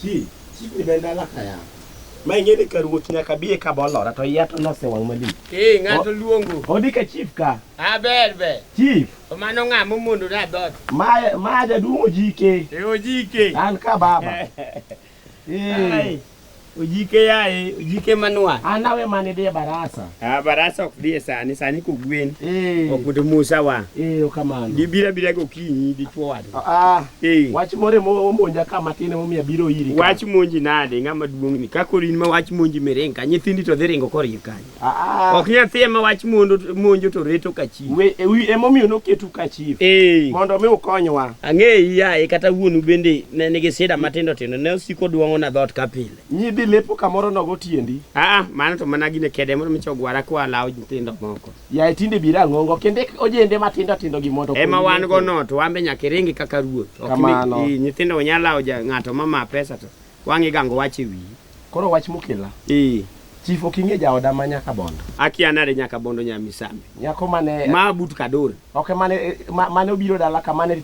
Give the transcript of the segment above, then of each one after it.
Chi, chi bende dala kaya. ma ing'e ni ka ruoth nyaka biye ka bolora to iya to nosewang' malich Ee, ng'ato luongo. odi ka chief ka Ah, ber ber. chief To mano ng'a momondo na dhoot. ma ma jaduong' ojike E ojike. an ka baba Ai, Ojike yaye, ojike manwa. An awe mane dhi e barasa. Ah, barasa ok dhi e sani, sani kogwen. Eh. Ok mondo Musa wa. Eh, okamano. Gibira bira gokinyi dichwo wadu. Ah, Eh. wach more mo- omonja ka matin emomiyo abiro iri ka. Wach monji nade ng'ama duong' ni. Kakori in ma wach monji miring ka nyithindi to dhi ringo koriyo kanyo. Ah, Ok nyathi ema wach mondo monjo to reto ka chi. we- e- wi- emomiyo noketu ka chief Eh. mondo mi ukonywa Ang'eyi yaye kata wuonu bende ne nigi sida matindo tindo ne osiko duong'o na dhoot ka pile. nyidhi lepo kamoro nogo tiendi Ah, mano to mana gine kede mondo micho gwara kwa lawo nyithindo moko. yaye tinde bira ng'ongo kende ojende matindo tindo gi mondo Ema okonyi wan lepo. go no to wambe nyaka iringi kaka ruoth. Ok Kamano. ni- i- nyithindo unyalo lawo ja- ng'ato ma ma pesa to Wang'i gango wach e wiyi. Koro wach mokela. Ee. Chief ok ing'e jaoda ma nyaka bondo. Akia nade nyaka bondo nya misambi. Nyako mane ma but kador. Ok mane eh, mane obiro dala ka mane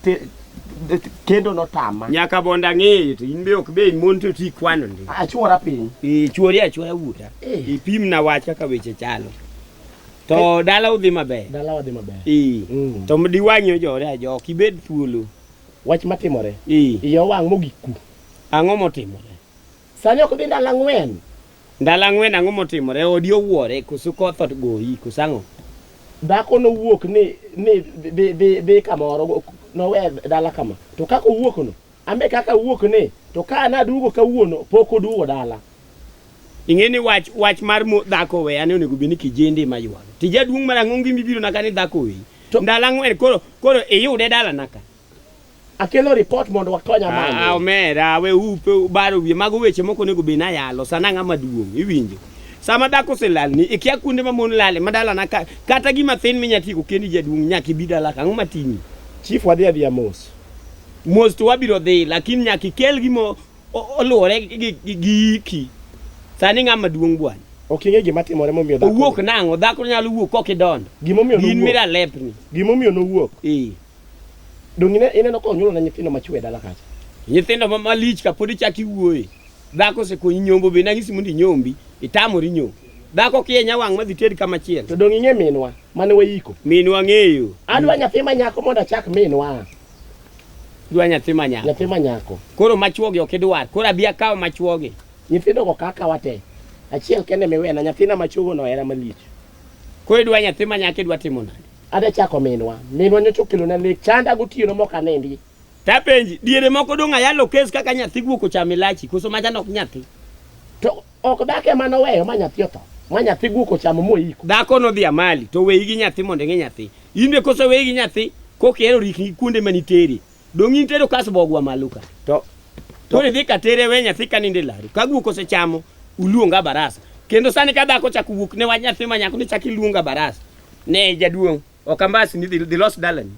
kendo notama. Nyaka bondo ang'eyo to in be ok be mon to ti kwano ndi. Achuora piny. Ee chuori achuora wuta. Eh. Ipim na wach kaka weche chalo. To eh. dala udhi maber. Dala udhi maber. Ee. Mm. To mdiwanyo jore ajo ok ibed thuolo. Wach matimore. Ee. Iyo wang' mogik ku. Ang'o motimore? Sani ok dhi ndalo ang'wen. Ndalo ang'wen ang'o motimore? Odi owuore, koso koth ogoyi, koso ang'o? Dhako nowuok ni ni dhi dhi dhi kamoro nowe dala kama. To kaka owuok no, ambe kaka awuok ni to ka naduogo kawuono pok oduogo dala. Ing'e ni wach wach mar mo- dhako we ane onego bed ni kijende ema ywago. Tija duong' marang'ongi mibiro naka ni dhako weyi. To- Ndalo ang'wen koro koro iyude dala naka. Akelo report mondo wakonya malo. Ah, omera we upe ubaro wiye mago weche moko onego bed ni ayalo sana ang'a maduong' iwinjo. Sama dhako oselalni ikia kuonde ma mon lale ma dalana ka, kata gima thin minya tieko kendi jaduong' nyaka ibi dala ka ang'o matimi? Chief wadhi adhiya mos. Mos to wabiro dhi lakini nyaka ikel gima o- o- oluwore gi- gi gi- gi iki. Sani ng'a maduong' bwana. Ok ing'e gima timore momiyo dhako. Owuok nang'o dhako nyalo wuok kok idondo. Gimomiyo In nowuok. mira lepni. Gimomiyo nowuok. Eh. Donge ine- ineno ka onyuolona nyithindo machwe e dala kacha? Nyithindo ma malich ka pod ichak iwuoye. Dhako osekonyi nyombo be nagisi mondo inyombi, itamori nyombo. Dhako kienya wang' madhi ted kama chiel. To donge ing'e minwa mane wayiko? Minwa ng'eyo. Adwa nyathi ma nyako mondo achak minwa. Dwa nyathi ma nyako. Nyathi ma nyako. Koro machuogi ok idwar. Koro abi akaw machuogi. Nyithindo go kaka wate. Achiel kende miwena nyathina machuogo no era malich. Koro idwa nyathi ma nyako idwa timo nade? Adwa chako minwa. Minwa nyocha okelona lek. Chanda gotieno mok anindi. Tapenji, diere moko dong' ayalo kes kaka nyathi guok ochamo ilachi, koso majan ok nyathi? To ok dak ema noweyo ma nyathi otho. Ma nyathi guok ochamo moiko. Dhako nodhi amali, to weyi gi nyathi mondo ing'e nyathi. In be koso weyi gi nyathi, koka ihero rikni gi kuonde manitere. Dong' in tedo kas bogwa malo ka. To koro idhi ka tere we nyathi ka ninde laru. Ka guok osechamo uluonga barasa. Kendo sani ka dhako chako wuok ne wach nyathi ma nyako ni chak iluonga barasa. Ne jaduong' ok ambasi ni dhi los dalani.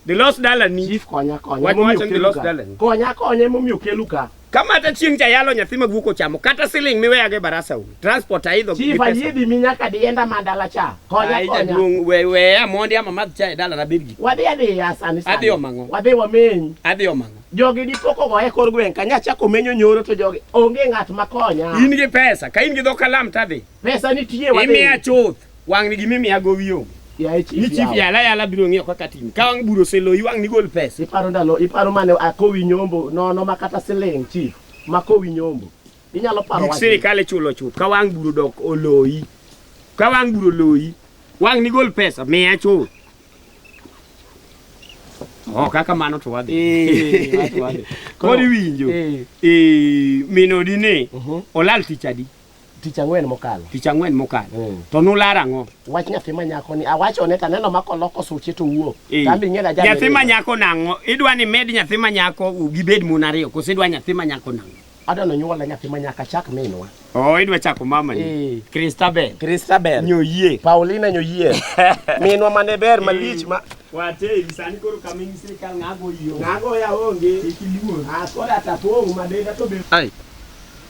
Dhi los dalani. Chief konya konya. Wach wacho ni dhi los dalani. Konya konya emomiyo kelu ka. Kamata chieng' cha yalo nyathi ma guok ochamo kata siling miweyago e barasa u. Transport aidho gi Chief pesa. ayidi mi nyaka dienda ma dala cha. Konya Ai konya. jaduong' we we amondi ama madh cha e dala na bed gi. Wadhi adiya sani sani. Adhi omang'o. Wadhi wameny. Adhi omang'o. Jogi dipo kogo e kor gweng' kanya chako menyo nyoro to jogi onge ng'at ma konya. In gi pesa, ka in gi dho kalam tadhi. Pesa nitie wadhi. Imiya chuth. Wang' ni gimi miya gowi onge. Yaye chief. Ni chief yala yala biro ng'iyo kaka tim. Ka wang' buro seloyi wang' ni gol pesa. Iparo ndalo, iparo mane akowi nyombo nono ma kata siling chief ma kowi nyombo. Inyalo paro wach. Gik sirikal ichulo chuth. Ka wang' buro dok oloyi. Ka wang' buro oloyi. Wang' ni gol pesa miya chuth. Oh, kaka mano to wadhi. Eh, Koro iwinjo. Eh. Eh, minodi ni uh -huh. olal tich adi? Tich ang'wen mokalo. Tich ang'wen mokalo. Mm. To nular ang'o? Wach nyathi ma nyako ni awachone to aneno ma koloko suche to wuok. Eh. Kambi ng'e na Nyathi ma nyako nang'o? Idwa ni med nyathi ma nyako gibed mon ariyo koso idwa nyathi ma nyako nang'o? Adwa ni onyuola nyathi ma nyaka chak minwa. Oh, idwa chako mama ni. Eh. Christabel. Christabel. Nyoyie. Paulina Nyoyie. Minwa mane ber malich ma Wate sani koro kaming sirkal ng'ago yo. Ng'ago ya onge. Kik iluor. Akoda tapong' madenda to be. Ai.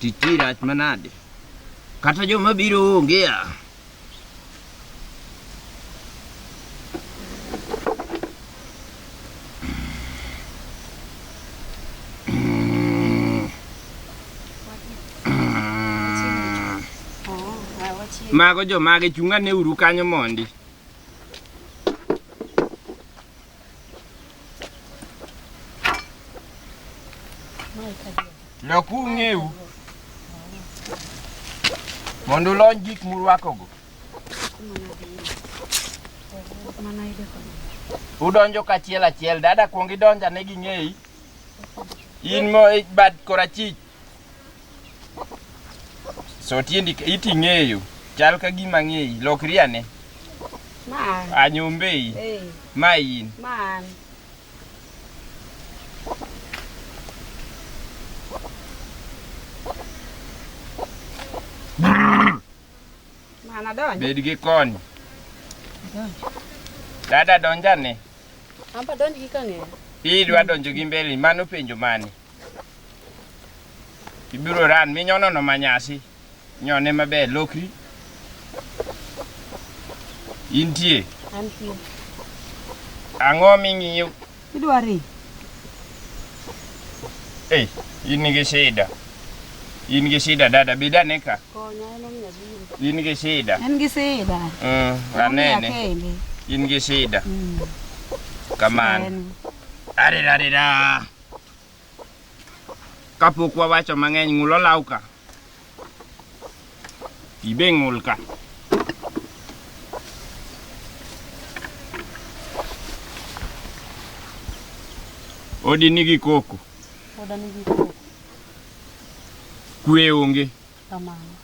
Titi rach manade. Kata joma biro onge a. Mago jomage chunga ne uru kanyo mondi. Lok ung'eu mondo ulony gik murwakogo. Udonjo kachiel achiel, dada kuong idonja ne ging'eyi. In mo bad korachich So tiendi iti ng'eyo. Chal ka gima ng'eyi. Lokri ane. Ma an. Anyombei. Hey. Ma in. Ma an. Bed gi kony. Dada donjane. Amba donj gi kang'eyo. Idwa donjo gi mbele mano penjo mane? Ibiro ran minyono no manyasi. Nyone maber lokri. Intie. Antie. Ang'o ming'iyo? Idwari. Ei, in gi shida. In gi shida dada, bed ane ka. Konya en omiyo abiro. In gi shida. En gi sida. Mm, Omiya anene. kende. In gi shida. Mm. Kamano. En. Arirarira. Kapok wawacho mang'eny, ng'ul olaw ka. Pi be ng'ul ka. Odi nigi koko. Oda nigi koko. Kwe onge. Kamano.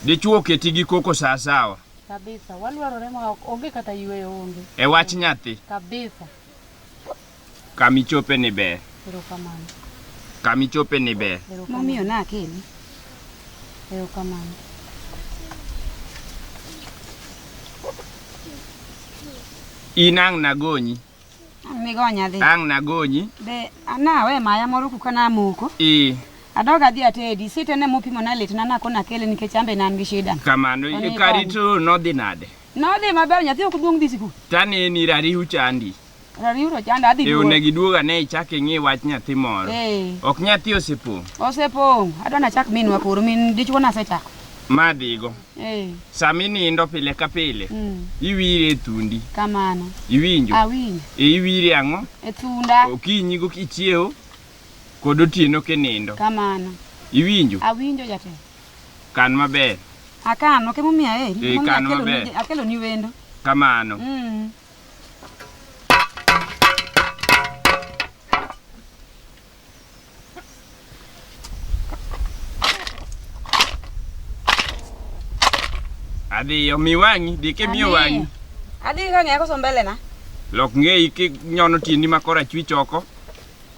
Dichwo oketi gi koko sawasawa. Kabisa. Walwarore ma ok onge kata yueyo onge. E wach nyathi. Kabisa. Kama ichope ni ber. Erokamano. Kama ichope ni ber. Momiyo na akeni. Erokamano. In ang' nagonyi. Ang' nigonya dhi. Ang' nagonyi. Be anawe maya moro kuka namoko. Ee. Adog adhi atedi. Sitene mopimo na litna nakona kele nikech ambe ne an gi shida. Kamano. Kari to nodhi nade? Nodhi maber nyathi ok duong' dhi sikul. Tane ni rariw chandi. Rariw to chanda adhi. Eyo ne giduoga ne ichak ing'i wach nyathi moro. Eh. Ok nyathi osepong'. Osepong'. Adwa na chak minwa koro min dichwo na sechako. Ma dhigo. Eh. Sama inindo pile ka pile. Mm. Iwire e thundi. Kamano. Iwinjo. Awinjo. E iwire ang'o? E thunda. Okinyi go kichiewo kod otieno kinindo. Kamano. Iwinjo. Awinjo jatelo. Kan maber. Akano ke momiyo aheri. Eh, Momiyo kan akelo maber. ni- Akelo ni wendo. Kamano. Mm. Adhiyo, mi wang'i, di kimiyo Adhi. wang'i. Adhi ka ng'eya koso mbele na. Lok ng'eyi kinyono tiendi ma korachwich oko.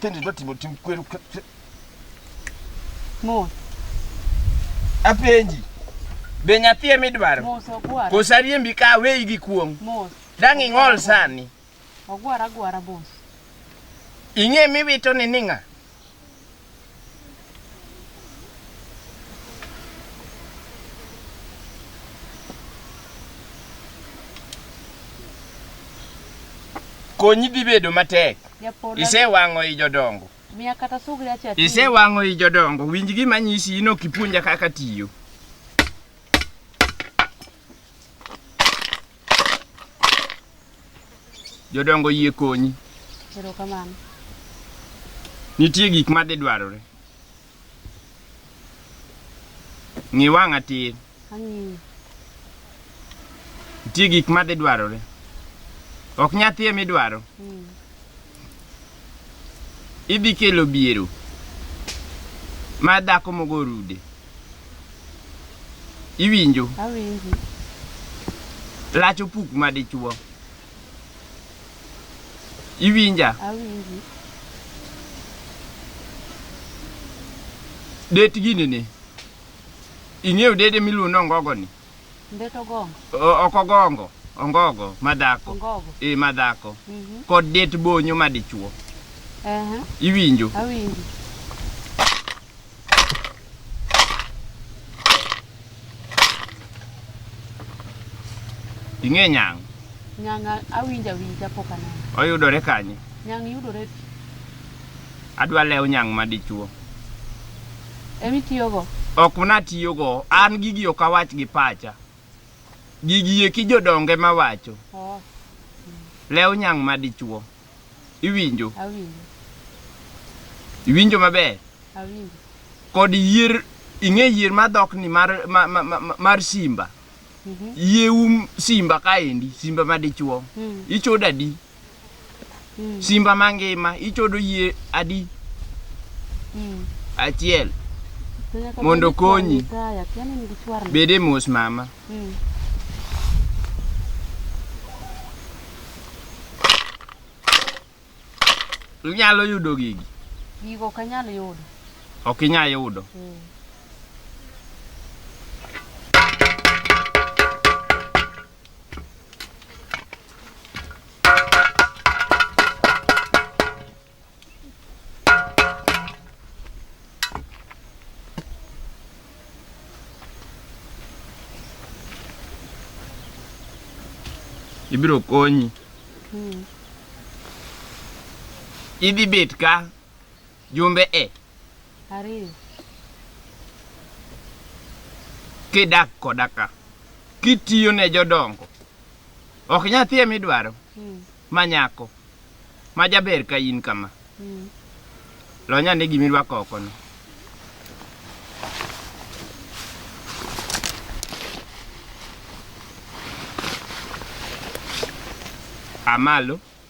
Tende dwa timo tim kweru. Mos. Apenji. Be nyathi ema idwaro? Mos okwara. Kosariembi ka weyi gi kuong'. Mos. Dang' ing'ol sani. Ogwara agwara boss. Ing'e miwito ni ning'a? Konyi dhi bedo matek. Japola. Isewang'o i jodongo. Miya kata sugri acha. Isewang'o i jodongo. Winj gima nyisi ino kipuonja kaka tiyo. Jodongo yie konyi. Erokamano. Nitie gik ma dhi dwarore. Ng'i wang'a tir. Ang'iyo. Nitie gik ma dhi dwarore. Ok nyathi emi dwaro. Mm. Idhi kelo biero ma dhako mogo rude. Iwinjo? Awinji. Lach opuk ma dichuo. Iwinja? Awinji. Det gini ni. Ing'eyo dede miluongo ni ongogo ni? Mbeto gongo. O- oko gongo ongogo madhako Ongogo. e madhako Mhm. kod det bonyo madichuo Aha. iwinjo Awinji. ing'e nyang' Nyanga awinja winja pok aneno. oyudore kanye Nyang yudore Adwa lew nyang' ma dichuo. Emi tiyogo? Ok natiyogo. An gigi ok awach gi pacha. Gigi eki jodonge ma wacho. Oh. Lew nyang' ma dichuo. Iwinjo? Awinjo. Iwinjo maber? Awinjo. Kod yier, ing'e yier ma dhok ni mar, mar, mar, mar simba. Mm -hmm. Yie um simba kaendi, simba ma dichuo. Mm. Ichoda di. Mm. Simba mangima ichodo yie adi? Mm. Achiel. Mondo konyi. Bede mos mama. Mm. Inyalo yudo gigi? Gigo ok anyal yudo. Ok inyal yudo. Mm. ibiro konyi idhi bet ka Jumbe e. Ariyo. Kidak koda ka. Kitiyo ne jodongo. Ok nyathi ema idwaro. Mm. Ma nyako. Ma jaber ka in kama. Mm. Lonya ne gima irwako oko no. Amalo.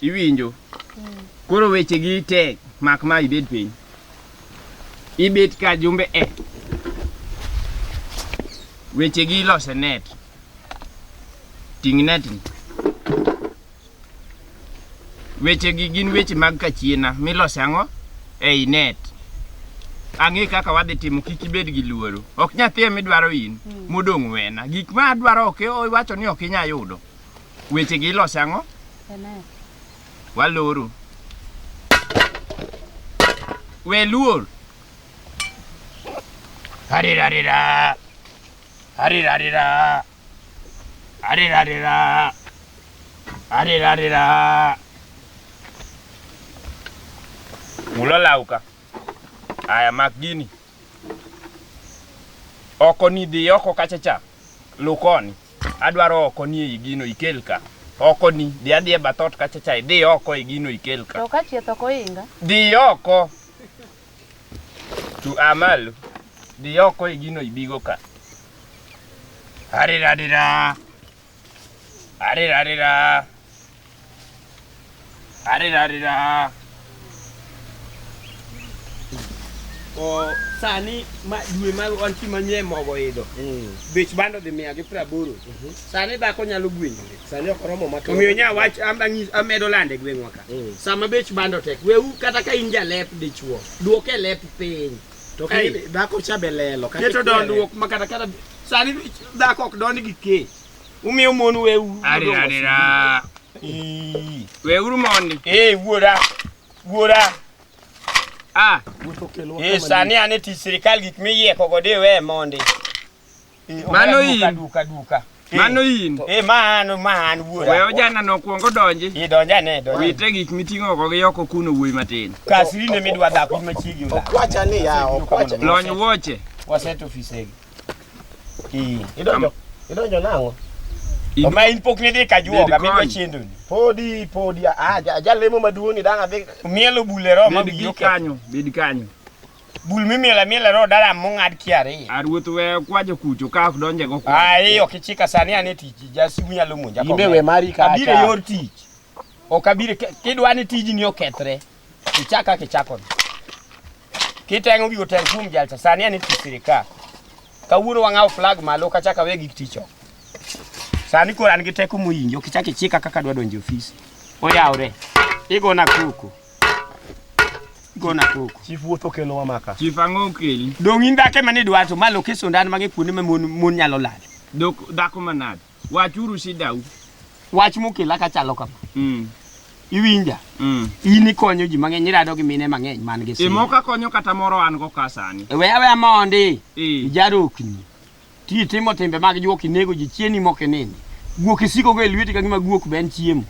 Iwinjo? Koro weche gi tek mak ma ibed piny. Ibet ka jumbe e. Weche gi lose net. Ting' net ni. Weche gi gin weche mag kachiena milose ang'o? Ei net. Ang'e kaka wadhi timo kik ibed gi luoro. Ok nyathi emidwaro in. Modong' wena. Gik ma adwaro ok iwacho ni ok inya yudo. Weche gi ilose ang'o? Amen. Waloro. We luor. Harira harira. Harira harira. Harira harira. Harira harira. Mulo lauka. Aya mak gini. Oko ni dhi oko kacha cha. Lukoni. Adwaro oko ni ei gino ikel ka. Oko ni, dhi adhi e bath ot kacha cha, idhi oko e gino ikel ka. To ka chieth ok oinga? Dhi oko. Tu a malo. Dhi oko e gino ibigo ka. Arira arira. Arira arira. Arirarira. O sani ma dwe ma wan chi manyie mogo idho. Bech bando dhi mia gi praboro. Sani dhako nyalo gwenyore. Sani ok oromo ma Omiyo nya wach am- ang'is- amedo lande e gweng'wa ka. Mm. Sama bech bando tek, wewu kata ka in jalep dichuo, duok e lep piny. To Ai. kini dhako cha be lelo kata Keto ikwele. dondruok ma kata kata sani dhako ok dond gi kee. Umiyo mon weuru. Arira arira. Weuru mondi. Eh wuora. Wuora. Ah. Eh sani ane tich sirikal gik miyieko go de we mondi. Eh, Mano in. Duka duka. duka. Eh, Mano in. Eh mano man wuora. Wewe jana nokuongo donji. Eh donja ne donja. Wite gik miting'o go gi yoko kuno wuoyi matin. Kasiri ne midwa dhako machiegi. Okwacha ni ya okwacha. Lony wuoche. Waset ofisegi. Ii, idonjo idonjo nang'o? Oma in pok nidhi ka juoga midwa chendo ni. Podi podi ah jalemo maduong' ni dang' adhi. Mielo bule ro ma biro kanyo, bed kanyo. Bul mimiela miela ro dala mong'ad kiari. Aruoth we kwajo kucho ka ok donje go kwa. Ah, iyo kichika sani ane tich, jasimu nyalo monja. Imbe we mari ka. Abire yor tich. Ok abire kidwani tijni okethre. Kichaa ka kichaa koni. Kiteng'o gigo teng' kuom jalcha sani en tich sirikal. Kawuono wang'awo flag malo kachaka we gik tich oko. Sani koro an gi teko moyinjo kichak ichika kaka dwa donjo e ofis. Oyawre. Igona koko. Igona koko. Chief wuoth okelo wa maka. Chief ang'o okeli? Dong' in dhako ema nidwacho ma loke sundan mage kuonde ma mon mon nyalo lal. Dok dhako manade? Wachuru shidau. Wach mokela ka chalo kama. Mm. Iwinja? Mm. In ikonyo ji mang'eny, irado gi mine mang'eny man gi sida. Imo ka konyo kata moro an go ka sani. E, we aweya mondi. Eh. Ijarokni. Ti timo timbe mag juok inego ji chieni mok inindi. Guok isiko go e lweti ka gima guok be en chiemo.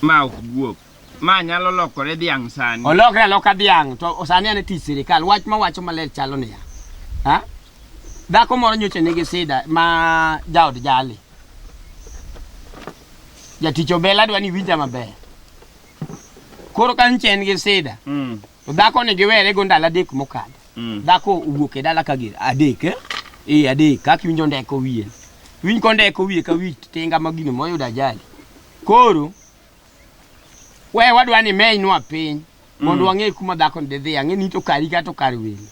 Ma ok guok. Ma nyalo lokore dhiang' sani. Olokre aloka dhiang' to sani an e tich sirikal. Wach ma wacho maler chalo niya. Ha? Dhako moro nyocha nigi sida ma jaod jali. Jatich obela adwa ni winja maber. Koro ka nche en gi sida, Mm. to dhako ni giwere go ndalo adek mokadho. Mm. Dhako owuok e dala ka gir adek eh? Eh adek kaka iwinjo ndeko wiye. Winj ko ndeko wiye ka wi tinga ma gino moyudo ajali. Koro We wadwa ni menywa piny mondo mm. wang'e kuma dhakoni didhi ang'e ni to kari kata kar welo.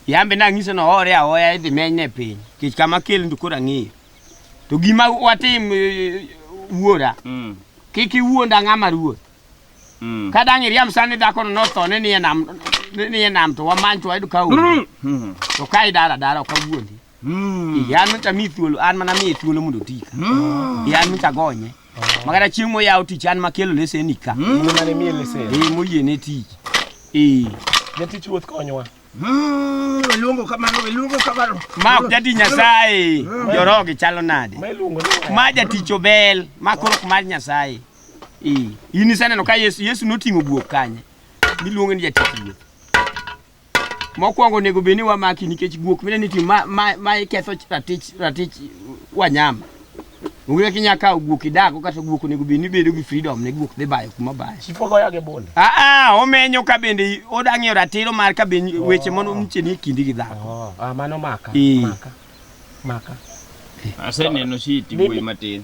Yambe nang'ise no hore ahoya idhi menyne piny. Kech kama kel ndu kora ng'eyo. To gima watim e, e, wuora. Mm. Kik iwuonda ng'ama ruoth. Mm. Ka dang' iriam sani dhakono notho ni nie nam ni nie nam to wamany to wayud ka onge. Mm. To ka idara dara ok awuondi. Ee, an mocha mi thuolo an mana miye thuolo mondo oti ka Ee, an mocha gonye makata chieng' moyawo tich an makelo leseni ka Muma ne miye lesen. Ee, moyiene tich Ee, Jatich ruoth konywa. Luongo kamano, luongo kamano. ma ok jati nyasaye jorogi chalo nade Ma iluongo ni ma jatich obel ma koro ok mar nyasaye Ee, in iseneno ka yesu yesu noting'o guok kanye miluongo ni jatich ruoth Mokwongo onego bed ni wamaki nikech guok mine ni ma, ma, ma iketho ratich ratich wanyama. Onge kaka inyalo kawo guok idago kata guok onego bed ni bedo gi freedom ne guok dhi bayo kuma bayo. Chief ogoya gi bunde. Ah ah omenyo ka bende odang'eyo ratiro mar ka bende weche mondo nitie ni kindi gi dhako. Ah, mano maka. Ee. Maka. maka aseneno shiti wuoyi matin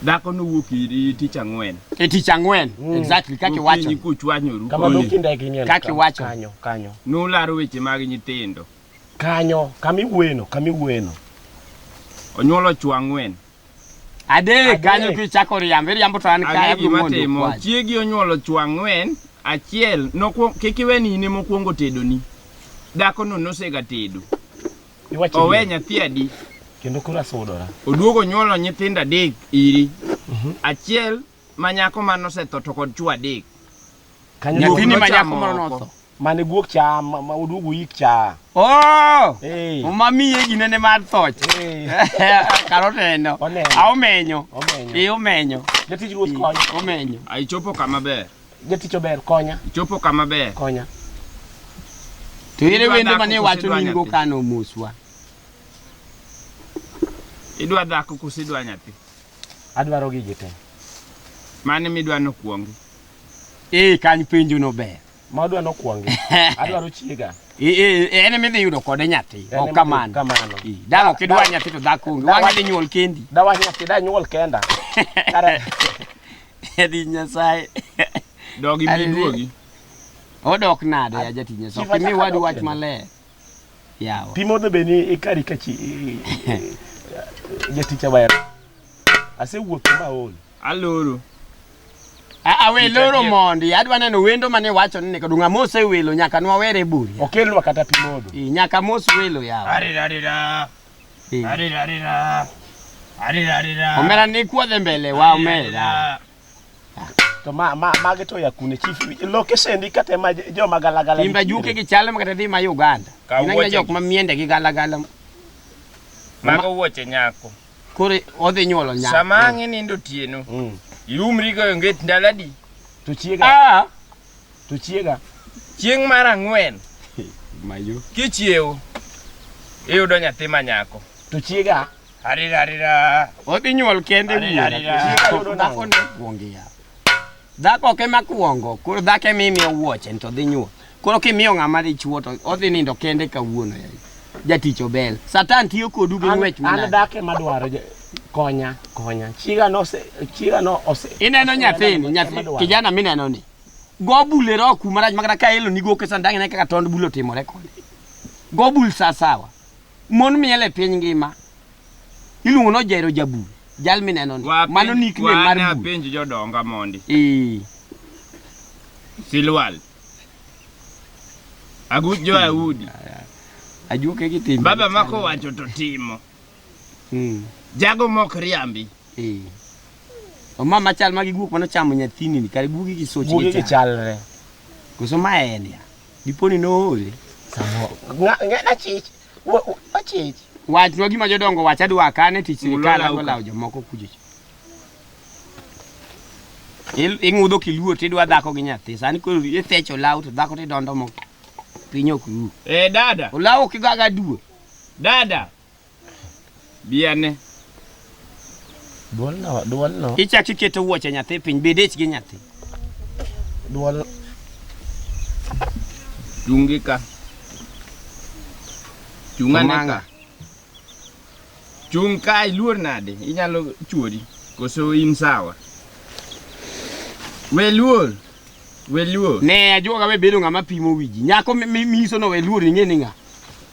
dhako nowuok iri tich ang'wen e tich ang'wen mm. exactly kaki wacho ni kuchwanyoru kama dokinda kinyo kaki wacho kanyo kanyo nularo weche mag nyithindo kanyo kami wueno kami wueno onyuolo chwa ang'wen Adek kanyo kichako riambo, iriambo to an kaya gi mondo timo. Chiegi onyuolo chwa ang'wen, achiel nokwong kik iwe ni ine mokwongo tedoni. Dako no nosega tedo. Owe nyathi adi? Kendo kura sudora. Oduogo nyuolo nyithindo adek iri. Mhm. Achiel ma nyako ma nosetho to kod chwo adek. Kanyo Guok Nyathini ma nochamo nyako moro oko. notho. mane guok cha ma ma oduogo yik cha. Oh! Ee. Uma miye gine ne mar thoch. Ee. Kar oneno. Oneno. A omenyo. Omenyo. Ee omenyo. Jatich ruoth konya. Omenyo. A ichopo kama ber. Jatich ober konya. Ichopo kama ber. Konya. To ere Idwa wende dhako mane koso wacho idwa ni in go nyathi? kano moswa. Idwa dhako koso idwa nyathi? Adwaro gigi te. Mane midwa nokwongi? Ee, kany penjo no ber. Ma adwa nokwongi. Adwaro chiega. Ee, ee, en ema idhi yudo kode nyathi. En Ok ema kamano. kamano. Ee, Dala ok idwa nyathi to dhako onge. Wang'e dhi nyuol kendi. Dawa nyathi da nyuol kenda. Kare. Edi Nyasaye. Dogi Ari- miduogi. Odok nade ya jatich Nyasaye. Chief, Ok imi achak wadu adok wach kendo. maler. yawa pi modho be ni ikari ka chi jatich awaya asewuotho ma ol aloro awe loro mondi adwa neno wendo mane wacho ni kodunga mose welo nyaka nwawere buri okelnwa kata pi modho e, nyaka mos welo yawa arira arira e. arira arira arira arira omera ni kuodhe mbele wa omera To ma ma mage to ya kune chief location ndi kate ma joma galagala. Timba juke gi chal ma kata dhi ma Uganda. Ka Ina wuoche. jok ma miende gi galagala. Mago wuoche nyako. Koro odhi nyuolo nyako. Sama ang' inindo otieno, Mm. iumri goyo nget ndalo adi? To chiega Ah, to chiega. Chieng' mar ang'wen mayo. kichiewo, iyudo nyathi ma nyako. To chiega Arira arira. Odhi nyuol kende Arira, arira. dhakone kuongi ya. Dhako ok ema kuongo, koro dhako ema imiyo wuoche to dhi nyuol. Koro kimiyo ng'ama dichuo to odhi nindo kende kawuono ya. Jatich obel. Satan tiyo kodu gi ng'wech An manade. dhake madwaro je- konya konya. Chiga no se chiga no ose. Ineno nyathini, nyathi Madwaro. kijana mineno ni. Go bule ro kuma rach makata ka elo ni go kesan dang'e kaka tond bulo timore kode. Go bul sasawa. Mon miel e piny ngima iluongo no Jairo Jabul, jal mineno ni. Wapenj- Mano nickname mar wane bul. apenj jodonga mondi Eh, silwal agut jo audi ajuoke gi timbe. baba ma kowacho to timo Mm, jago mok riambi eh. O mama chal ma gi guok mano chamo nyathini ni kare guogi gi soch Guogi gi chal. gichalre. Koso ma en ya. Diponi noole. Samo. Ng'ada chich. Wachich. Wachnwa gima jodongo wacha dwa kane tich sirikal ago lawo jomoko kujich. Ing'udho kiluo tidwa dhako gi nyathi. Sani koro ithecho law to dhako tidondo moko. Piny ok ru. Eh dada. Olawo kigaga duo. Dada. Bi ane. Duolno, duolno, Ichak iketo wuoche nyathi piny, bed ich gi nyathi. duol Chungi ka. Chung ane Omanga. ka. Chung ka iluor nade? Inyalo chuori. Koso in sawa. We luor. We luor. Ne ajuoga we bedo ng'ama pimo wiji. Nyako mi- mi- miyiso no we luor ing'e ni ng'a.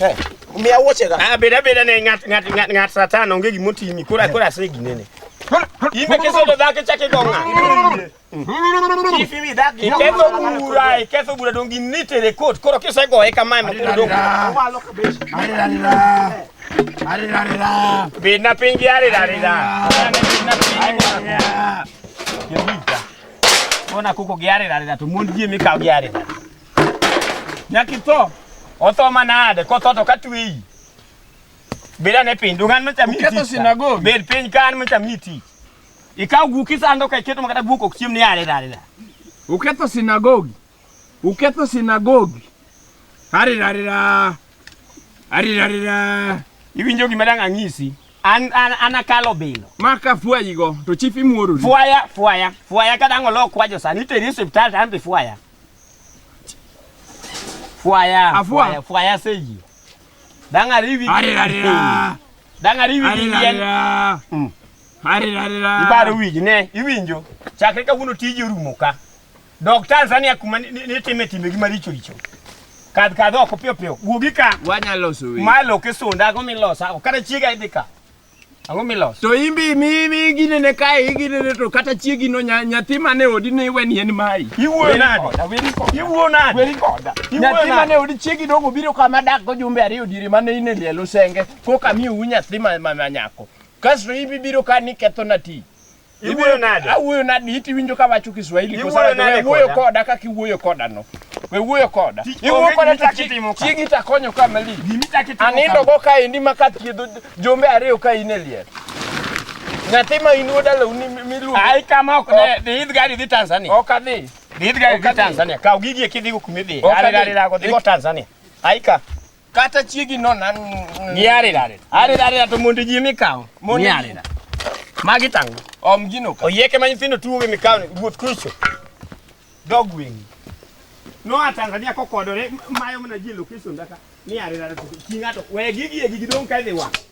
Eh, miya wuoche ga. Ah, beda beda ne ngat ngat ngat ngat satan onge gimo timi. Kora kora se ginene. Imbe keso do dhake chake gonga. Ifi mi dhake. Ikeso bura, ikeso bura dongi nite re court. Koro kise go e kama ma koro dongi. Malo kabesh. Ari ari ra. Ari ari ra. Bina pingi ari ari ra. Bina pingi. Ona kuko giare ari ra to mond ji mi ka giare. Nyakitho. Otho manade kotho to katweyi. Beda ne piny dungan macha miti. Ketho sinagogi. Bed piny kan macha miti. Ikaw guki sando ka iketo makata guko chiem ni are dare da. Uketho sinagogi. Uketho sinagogi. Ari ari ra. Ari ari ra. Iwinjo gima dang ang'isi. An an anakalo bilo. Maka fwayigo to chief imuorori. Fwaya fwaya fwaya kadang olok kwajo sani iteri e osiptal to an be fwaya. Fwaya, Afwa. fwaya, fwaya seji. Danga rivi. Are are ra. Danga rivi Are are yen. ra. Mm. Are are ra. Ibaro wiji ne, iwinjo. Chakre kawuono tiji orumo ka. Dok Tanzania kuma ni- ni- nitime timbe gi maricho richo. Kadh kadh oko piyo piyo. Wuogi ka. Wanya loso weche. Malo kisunda go milosa. Kata chiega idhi ka. Ang'o miloso? To imbi mi mi ginene kae iginene to kata chiegi no nya- nyathi mane odi ne iweni en mai. Iwuoyo nade? Iwuoyo nade? Weri koda. Iwuoyo Nyathi nade? mane odi chiegi dongo obiro kama dak go jumbe ariyo diere mane in e liel osenge koka miu nyathi ma ma- ma nyako. Kasto ibi biro ka ni ketho na ti. Iwuoyo nade? Awuoyo nade? Iti winjo ka wacho Kiswahili kosa Iwuoyo nade we wuoyo koda? koda kaka iwuoyo koda no. We wuoyo koda. Tich Iwuoyo onge koda gimi to chak itimo ka. chiegi to akonyo ka malich. Gimi chak itimo Anindo kama. go ka endi ma ka thiedho jombe ariyo ka in e liel. Nyathi ma in wuod alawu ni miluongo. Ai kama ok ne dhi idh gari dhi Tanzania. Ok adhi. Dhi idh gari Ok dhi adhi. Tanzania. Kaw gigi e kidhigo kuma idhiye. Ok Gari adhi. gari dago dhigo Tanzania. Ai ka. kata chiegi no nan giarira arira arira to mondo ji mikawo mondo giarira magi tango om gino ka oyeke ma nyithindo tuwo gi mikawo wuoth kucho dog wing no a Tanzania kokodore mayo mana ji location daka ni arira to kingato we gigi gigi dong ka dhi wa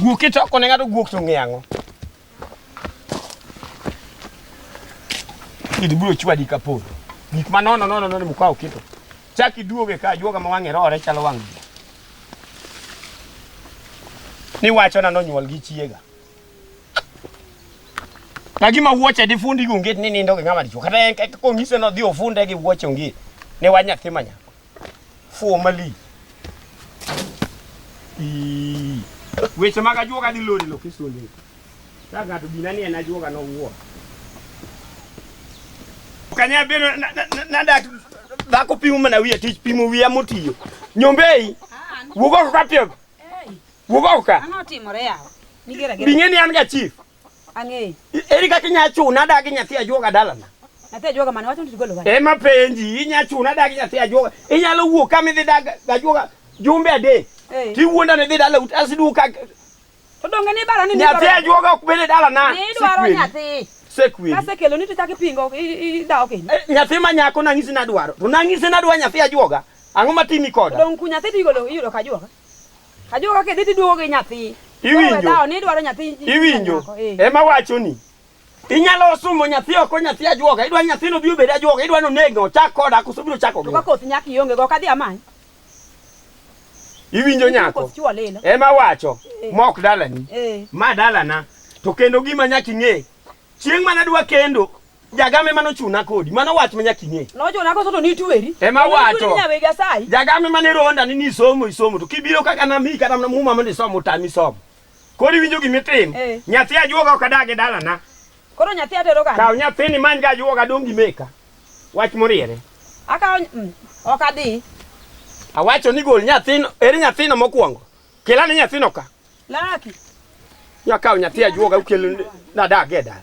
Guok kitoko ne ng'ato guok to ng'e ang'o? Kidi biro chwadi ka polo. Gik ma nono nono nono mukawo kito. Chak iduoge ka juoga ma wang'e rore chalo wang' ji. Ni wacho na nonyuol gi chiega. Lagima wuoche di fundi gi onget ni nindo gi ng'ama dichuo. Kata en kaka kong'ise no dhi ofunde gi wuoche onget. Ne wa nyathi ma nyako. Formally. Ii. Weche mag ajuoga dhi lori lo kisonde. Ka ng'ato gina ni en ajuoga no wuo. Kanya bino na dak dhako pimo mana wiye tich pimo wiya motiyo. Nyombei. Wugo ka pio. Wugo ka. Ang'o timore yawa? Nigera gera. Bing'e ni an ga chief. Ang'eyo. Eri kaka inya chuna adagi nyathi ajuoga dalana. Nyathi ajuoga mane wacho ni tigolo wach. Ema penji inya chuna adagi nyathi ajuoga. Inyalo wuok kama idhi dag ajuoga jumbe adek. Hey. Tiwuonda ni dhi dala ut asidu ka To donge ni bara ni nyathi ajuoga ok bede dala na. Ni dwaro nyathi. Sekwi. Kase kelo ni to chak ipingo idawo kendo. Eh, nyathi ma nyako nang'isi nadwaro. To nang'isi nadwa nyathi ajuoga. Ang'o matimi koda? Dong ku nyathi tigolo iyudo ka ajuoga. Ajo kaka idhi tiduogo gi nyathi. Iwinjo? Ni dwaro nyathi. Iwinjo? Eh. Ema wachoni. Inyalo sumo nyathi oko nyathi ajuoga. Idwa nyathino bi obed ajuoga. Idwa nonege ochak koda koso biro chako gi. Kokoth nyaka ionge go kadhi amany. Iwinjo nyako? Ema wacho. Eh. Mok dalani. Eh. Ma dalana. To kendo gima nyaka ing'e. Chieng' mana dwa kendo Jagame ema nochuna kodi. Mano wach ma nyaka ing'e. Nochuna koso to nitweri. Ema wacho. Nyawe Nyasaye. Jagame ema ne ronda ni nisomo isomo to kibiro kaka nami kata muma mondo isom otami somo. Koro iwinjo gima itimo. Eh. Nyathi ajuoga ok adag e dalana. Koro nyathi atero kanye? Kaw nyathini many ga ajuoga dong' gimeka. Wach moriere. Akaw mm, ok adhi. Awacho ni gol nyathino, eri nyathino mokwongo. Kelane nyathino ka. Laki. Nyakaw nyathi ajuoga ukel nadag e dala.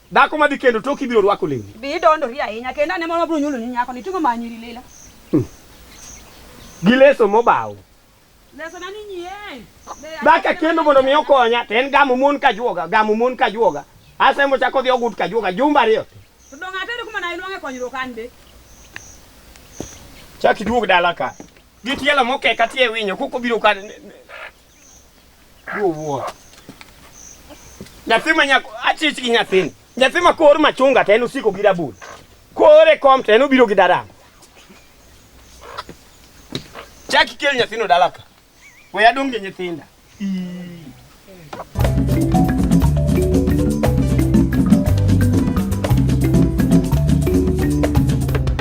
Dhako madhi kendo tok ibiro rwako lewni. Bi idondori ahinya kendo ane moro biro nyulo ni nyako ni tingo manyiri lela. Hmm. Gi leso mobaw. Leso na ni nyien. Dhaka kendo mondo mi okonya to en gamo mon ka juoga, gamo mon ka juoga. Asa mo chako dhi ogut ka juoga jumba riyo. To donga tendo kuma na iluonge konyruok an be. Chak iduog dala ka. Gitielo mokeka tie winyo kuko biro ka Wuo. Nyathi ma nyako achich gi nyathini. Nyathi ma kor machunga to en osiko gi rabul. Kore kom to en obiro gi daram. Chaki kel nyathino dala ka. We adong' gi nyithinda.